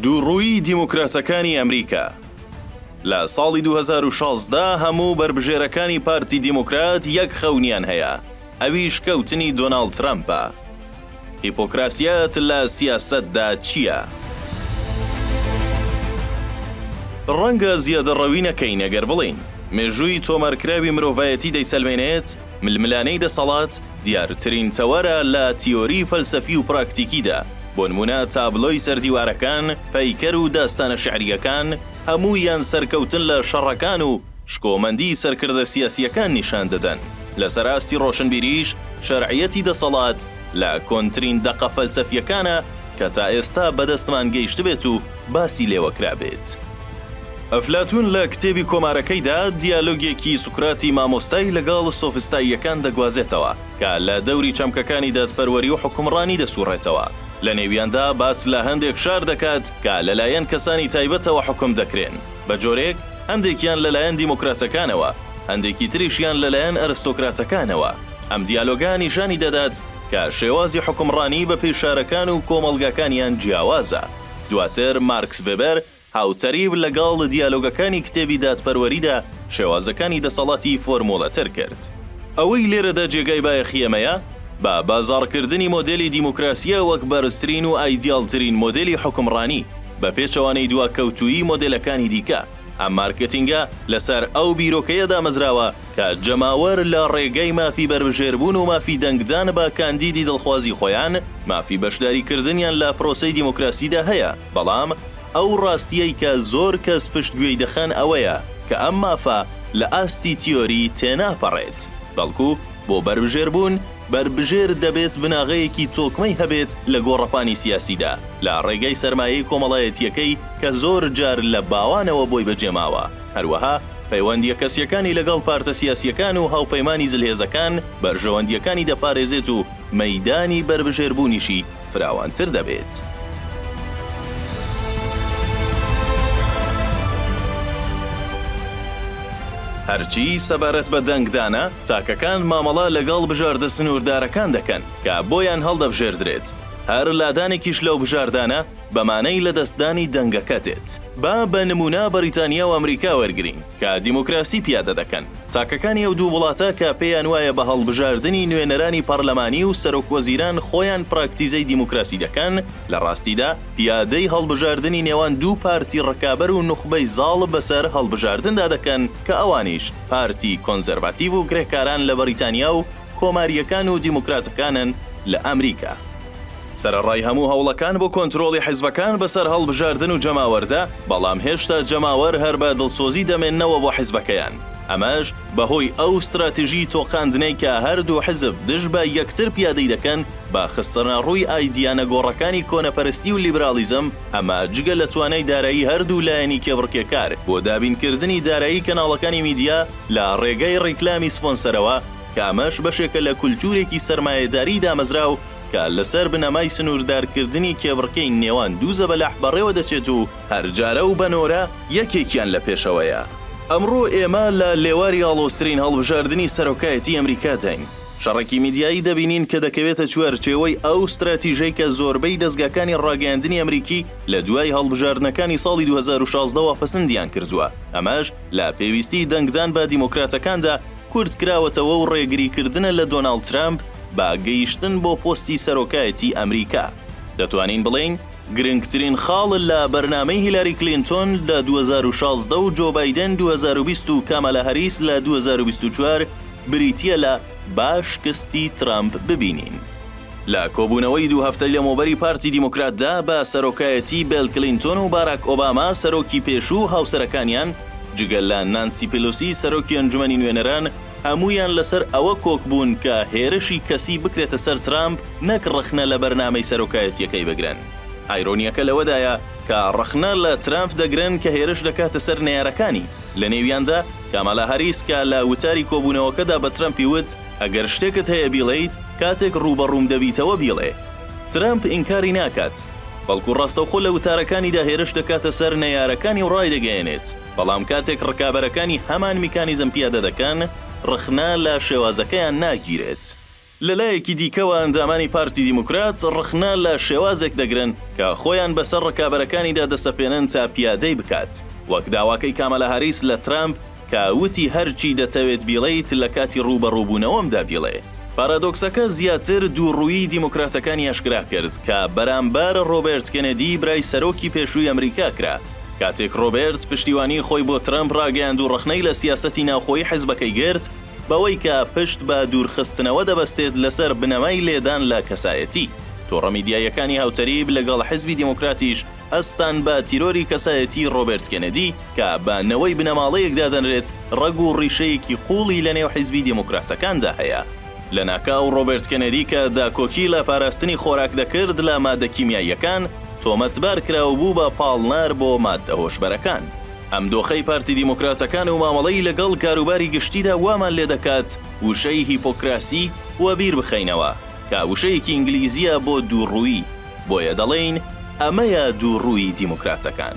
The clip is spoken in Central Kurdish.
دووڕوویی دیموکراتەکانی ئەمریکا لە ساڵی دوو هەزار و شازدە هەموو بەربژێرەکانی پارتی دیموکرات یەک خەونیان هەیە ئەویش کەوتنی دۆناڵد ترەمپە هیپۆکراسیەت لە سیاسەتدا چییە؟ ڕەنگە زیادەڕەوی نەکەین ئەگەر بڵێین مێژووی تۆمارکراوی مرۆڤایەتی دەیسەلمێنێت، ململانێی دەسەڵات دیارترین تەوەرە لە تیۆری فەلسەفی و پراکتیکیدا، بۆ نموونە تابلۆی سەر دیوارەکان، پەیکەر و داستانە شیعرییەکان، هەموویان سەرکەوتن لە شەڕەکان و شکۆمەندی سەرکردە سیاسییەکان نیشان دەدەن. لەسەر ئاستی ڕۆشنبیریش، شەرعیەتی دەسەڵات لە کۆنترین دەقە فەلسەفییەکانە، کە تا ئێستا بەدەستمان گەیشتبێت و باسی لێوە کرابێت. ئەفلاتوون لە کتێبی کۆمارەکەیدا دیالۆگێکی سوکراتی مامۆستای لەگەڵ سۆفستاییەکان دەگوازێتەوە، کە لە دەوری چەمکەکانی دادپەروەری و حوکمڕانی دەسووڕێتەوە، لە نێویاندا باس لە هەندێک شار دەکات کە لەلایەن کەسانی تایبەتەوە حوکم دەکرێن بە جۆرێک، هەندێکیان لەلایەن دیموکراتەکانەوە، هەندێکی تریشیان لەلایەن ئەرستۆکراتەکانەوە. ئەم دیالۆگە نیشانی دەدات، کە شێوازی حوکمڕانی بە پێی شارەکان و کۆمەڵگاکانیان جیاوازە. دواتر مارکس ڤێبەر هاوتەریب لەگەڵ دیالۆگەکانی کتێبی دادپەروەریدا شێوازەکانی دەسەڵاتی فۆرموڵەتر کرد. ئەوەی لێرەدا جێگای بایەخی ئێمەیە، بە بازاڕکردنی مۆدێلی دیموکراسییە وەک بەرزترین و ئایدیاڵترین مۆدێلی حوکمڕانی، بە پێچەوانەی دواکەوتوویی مۆدێلەکانی دیکە، ئەم مارکێتینگە لەسەر ئەو بیرۆکەیە دامەزراوە، کە جەماوەر لە ڕێگای مافی بەربژێربوون و مافی دەنگدان بە کاندیدی دڵخوازی خۆیان، مافی بەشداریکردنیان لە پرۆسەی دیموکراسیدا هەیە، بەڵام ئەو ڕاستییەی کە زۆر کەس پشتگوێی دەخەن ئەوەیە کە ئەم مافە لە ئاستی تیۆری تێناپەڕێت، بەڵکو بۆ بەربژێربوون، بەربژێر دەبێت بناغەیەکی تۆکمەی هەبێت لە گۆڕەپانی سیاسیدا، لە ڕێگای سەرمایەی کۆمەڵایەتییەکەی کە زۆر جار لە باوانەوە بۆی بەجێماوە. هەروەها پەیوەندییە کەسییەکانی لەگەڵ پارتە سیاسییەکان و هاوپەیمانی زلهێزەکان بەرژەوەندییەکانی دەپارێزێت و مەیدانی بەربژێربوونیشی فراوانتر دەبێت. هەرچی سەبارەت بە دەنگدانە، تاکەکان مامەڵە لەگەڵ بژاردە سنووردارەکان دەکەن کە بۆیان هەڵدەبژێردرێت، هەر لادانێکیش لەو بژاردانە، بەمانەی لەدەستدانی دەنگەکە دێت. با بە نموونە بەریتانیا و ئەمریکا وەرگرین، کە دیموکراسی پیادە دەکەن. تاکەکانی ئەو دوو وڵاتە کە پێیان وایە بە هەڵبژاردنی نوێنەرانی پەرلەمانی و سەرۆکوەزیران خۆیان پراکتیزەی دیموکراسی دەکەن، لە ڕاستیدا پیادەی هەڵبژاردنی نێوان دوو پارتی ڕکابەر و نوخبەی زاڵ بەسەر هەڵبژاردندا دەکەن کە ئەوانیش پارتی کۆنزەرڤاتیڤ و کرێکاران لە بەریتانیا و کۆمارییەکان و دیموکراتەکانن لە ئەمریکا. سەرەڕای هەموو هەوڵەکان بۆ کۆنترۆڵی حزبەکان بەسەر هەڵبژاردن و جەماوەردا، بەڵام هێشتا جەماوەر هەر بە دڵسۆزی دەمێنەوە بۆ حزبەکەیان، ئەمەش بەهۆی ئەو ستراتیژی تۆقاندنەی کە هەردوو حزب دژ بە یەکتر پیادەی دەکەن بە خستنەڕووی ئایدیا نەگۆڕەکانی کۆنەپەرستی و لیبراڵیزم، ئەمە جگە لە توانای دارایی هەردوو لایەنی کێبڕکێکار بۆ دابینکردنی دارایی کەناڵەکانی میدیا لە ڕێگەی ڕیکلامی سپۆنسەرەوە، کە ئەمەش بەشێکە لە کولتوورێکی سەرمایەداریی دامەزراو کە لەسەر بنەمای سنووردارکردنی کێبڕکێی نێوان دوو زەبەلاح بەڕێوە دەچێت و هەر جارە و بە نۆرە یەکێکیان لە پێشەوەیە. ئەمڕۆ ئێمە لە لێواری ئاڵۆزترین هەڵبژاردنی سەرۆکایەتیی ئەمریکاداین. شەڕێکی میدیایی دەبینین کە دەکەوێتە چوارچێوەی ئەو ستراتیژەی کە زۆربەی دەزگاکانی ڕاگەیاندنی ئەمریکی لە دوای هەڵبژاردنەکانی ساڵی دوو هەزار و شازدە وە پەسندیان کردووە، ئەمەش لە پێویستیی دەنگدان بە دیموکراتەکاندا کورت کراوەتەوە و ڕێگری کردنە لە دۆناڵد ترەمپ بە گەیشتن بۆ پۆستی سەرۆکایەتی ئەمریکا، دەتوانین بڵێین گرنگترین خاڵ لە بەرنامەی هیلاری کلینتۆن لە دوو هەزار و شازدە و جۆ بایدێن دوو هەزار و بیست و کامالا هەریس لە دوو هەزار و بیست و چوار بریتییە لە با شکستی ترەمپ ببینین. لە کۆبوونەوەی دوو هەفتەی لەمەوبەری پارتی دیموکراتدا بە سەرۆکایەتی بێل کلینتۆن و باراک ئۆباما سەرۆکی پێشوو و هاوسەرەکانیان، جگە لە نانسی پیلوسی سەرۆکی ئەنجومەنی نوێنەران، هەموویان لەسەر ئەوە کۆک بوون کە هێرشی کەسی بکرێتە سەر ترامپ نەک ڕەخنە لە بەرنامەی سەرۆکایەتییەکەی بگرن. ئایرۆنییەکە لەوەدایە کە ڕەخنە لە ترامپ دەگرن کە هێرش دەکاتە سەر نەیارەکانی، لەنێویاندا کامالا هاریس کە لە وتاری کۆبوونەوەکەدا بە ترەمپی وت، ئەگەر شتێکت هەیە بیڵێیت کاتێک ڕووبەڕووم دەبیتەوە بیڵێ. ترەمپ ئینکاری ناکات، بەڵکو ڕاستەوخۆ لە وتارەکانیدا هێرش دەکاتە سەر نەیارەکانی و ڕایدەگەیەنێت، بەڵام کاتێک ڕکابەرەکانی هەمان میکانیزم پیادە دەکەن، ڕخنە لە شێوازەکەیان ناگیرێت. لە لایەکی دیکەوە ئەندامانی پارتی دیموکرات ڕخنە لە شێوازێک دەگرن کە خۆیان بەسەر ڕکابەرەکانیدا دەسەپێنن تا پیادەی بکات، وەک داواکەی کامالا هاریس لە ترەمپ، کە وتی هەرچی دەتەوێت بیڵێیت لە کاتی ڕووبەڕووبوونەوەمدا بیڵێ. پارادۆکسەکە زیاتر دووڕوویی دیموکراتەکانی ئاشکرا کرد، کە بەرامبەر ڕۆبێرت کێنێدی برای سەرۆکی پێشووی ئەمریکا کرا، کاتێک ڕۆبێرت پشتیوانیی خۆی بۆ ترەمپ ڕاگەیاند و ڕەخنەی لە سیاسەتی ناوخۆیی حزبەکەی گرت بەوەی کە پشت بە دوورخستنەوە دەبەستێت لەسەر بنەمای لێدان لە کەسایەتی تۆڕە میدیاییەکانی هاوتەریب لەگەڵ حزبی دیموکراتیش هەستان بە تیرۆری کەسایەتیی ڕۆبێرت کێنێدی، کە بە نەوەی بنەماڵەیەک دادەنرێت، ڕەگ و ڕیشەیەکی قووڵی لەنێو حیزبی دێموکراتەکاندا هەیە. لەناکاو ڕۆبێرت کێنێدی کە داکۆکی لە پاراستنی خۆراک دەکرد لە ماددە کیمیاییەکان، تۆمەتبار کرا و بوو بە پاڵنەر بۆ ماددە هۆشبەرەکان. ئەم دۆخەی پارتی دیموکراتەکان و مامەڵەی لەگەڵ کاروباری گشتیدا وامان لێدەکات وشەی هیپۆکراسی وەبیر بخەینەوە. کە وشەیەکی ئینگلیزییە بۆ دووڕوویی، بۆیە دەڵێین ئەمەیە دووڕوویی دیموکراتەکان.